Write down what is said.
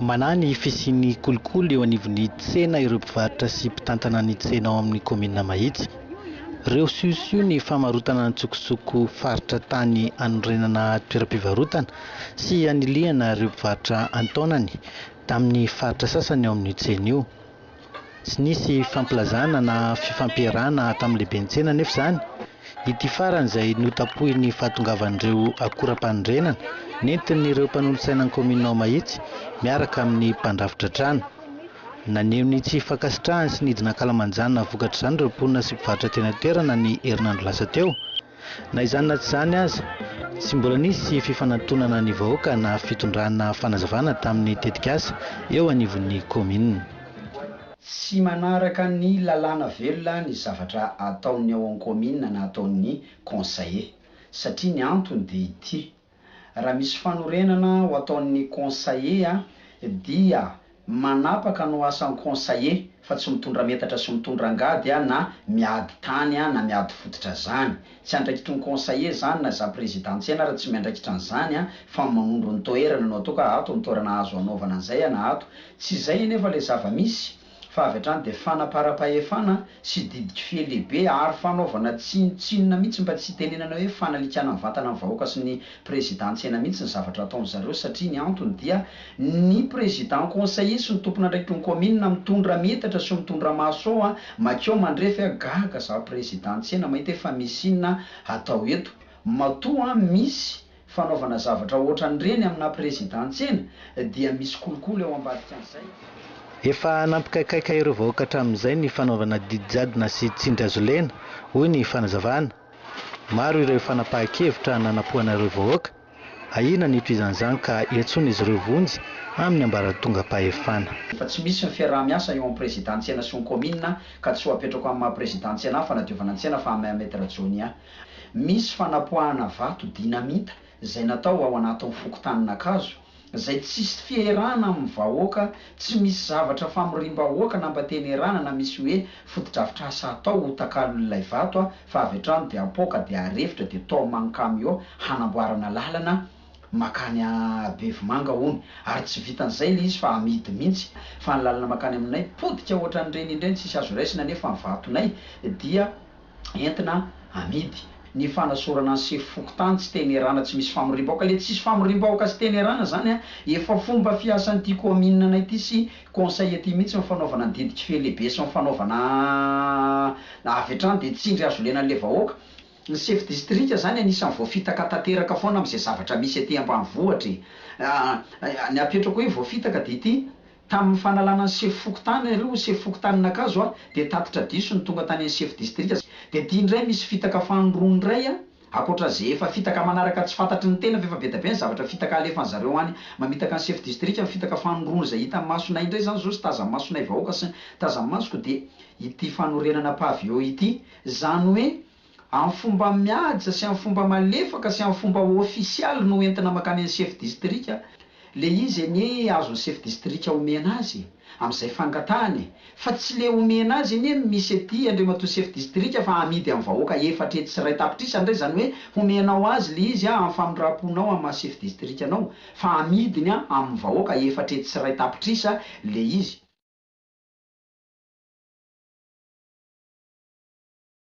Manahy ny fisian'ny kolikoly eo anivon'ny tsena ireo mpivarotra sy mpitantana ny tsena ao amin'ny kaominina Mahitsy. Reosihosiho ny famarotana an-tsokosoko faritra tany anorenana toeram-pivarotana sy hanilihana ireo mpivarotra an-taonany tamin'ny faritra sasany ao amin'io tsena io. Tsy nisy fampilazana na fifampiarahana tamin'ny lehiben-tsena anefa izany. Ity farany izay notapohin'ny fahatongavan'ireo akoram-panorenana nentin'ireo mpanolotsainan'ny kaominina ao Mahitsy miaraka amin'ny mpandrafitra trano. Naneho ny tsy fankasitrahany sy nidina an-kalamanjana vokatr'izany ireo mponina sy mpivarotra teny an-toerana ny herinandro lasa teo. Na izany na tsy izany aza, tsy mbola nisy fifanatonana ny vahoaka na fitondrana fanazavana tamin'ny tetikasa eo anivon'ny kaominina. Tsy manaraka ny lalàna velona ny zavatra ataon'ny ao an-kaominina na ataon'ny conseillers, satria ny antony dia ity. Raha misy fanorenana ho ataon'ny Conseiller dia manapaka no asan'ny Conseiller fa tsy mitondra metatra sy mitondra angady na miady tany na miady fototra zany. Tsy andraikitry ny Conseiller zany na za Président Ntsena ary tsy miandraikitra an'izany fa manondro ny toerana no ato ka ato no toerana azo anaovana an'izay na ato tsy izay anefa le zava-misy. fa avy hatrany dia fanaparam-pahefana sy didik'fy lehibe ary fanaovana tsinontsinona mihitsy mba tsy hitenenana hoe fanalikana ny vantana ny vahoaka sy ny Président an-tsena mihitsy ny zavatra ataon'dry zareo satria ny antony dia ny Président conseiller sy ny tompon'andraikitry ny kaominina mitondra metatra sy mitondra maso ao makeo mandrefy a gaga zaho Président an-tsena mahita hoe fa misy inona hatao eto matoa misy fanaovana zavatra ohatran'ireny aminà prezidantsenà dia misy kolikoly ao ambadikan'izay. Efa nampikaikaika ireo vahoaka hatramin'izay ny fanaovana didy jadona sy tsindry hazolena, hoy ny fanazavana. Maro ireo fanapahan-kevitra nanapohana ireo vahoaka, ahiana ny hitohizan'izany ka iantsoan'izy ireo vonjy amin'ny ambaratongam-pahefana. Efa tsy misy ny fiaraha-miasa eo amin'ny prezidantsenà sy ny kaominina ka tsy ho apetrako amin'ny maha prezidantsenà fanadiovana ny tsena fa Ahmed Rajonia. Misy fanapoahana vato dinamita izay natao ao anatin'ny fokontanin'Ankazo, izay tsisy fierana amin'ny vahoaka, tsy misy zavatra famoriam-bahoaka nampatenerana na misy hoe fotodrafitrasa atao ho takalon'ilay vato fa avy hatrany dia apoaka dia arefitra dia taomina amin'ny kamiô hanamboarana lalana makany Bevimanga hono ary tsy vitan'izay ilay izy fa amidy mihintsy fa ny lalana makany aminay potika ohatran'ireny indreny tsisy azo raisina nefa ny vatonay dia entina amidy. Ny fanasorana ny sefo fokontany tsy tenerana tsy misy famoriam-bahoaka, ilay tsisy famoriam-bahoaka sy tenerana zany an, efa fomba fiasan'ity kaominina ity sy conseil ity mihitsy ny fanaovana ny didy kifehy lehibe sy ny fanaovana avy hatrany dia tsindry azo ilaina an'ilay vahoaka. Ny sefo distrika zany anisan'ny voafitaka tanteraka foana amin'izay zavatra misy aty ambanivohitra e. Ny apetrako hoe voafitaka dia ity, Tamin'ny fanalana ny sefo fokontany ary ho sefo fokontanin'Ankazo aho dia tatitra diso ny tonga tany amin'ny sefo distrika dia ity indray misy fitaka fanindroany indray a! Ankoatra ze efa fitaka manaraka tsy fantatry ny tena fa efa be dia be ny zavatra fitaka alefany zareo any mamitaka ny sefo distrika ny fitaka fanindroany izay hitan'ny masonay indray izany izao sy tazan'ny masonay vahoaka sy tazan'ny masoko dia ity fanorenana pavillon ity izany hoe Amin'ny fomba mihaja sy amin'ny fomba malefaka sy amin'ny fomba ofisialy no entina mankany amin'ny chef distrika ilay izy anie azon'ny chef distrika omena azy e! amin'izay fangatahany e! fa tsy ilay omena azy anie no misy ety Andriamatoa chef distrika fa amidy amin'ny vahoaka efatra hetsy sy iray tapitrisa indray izany hoe homenao azy ilay izy amin'ny famindram-ponao amin'ny maha chef distrikanao fa amidiny amin'ny vahoaka efatra hetsy sy iray tapitrisa ilay izy.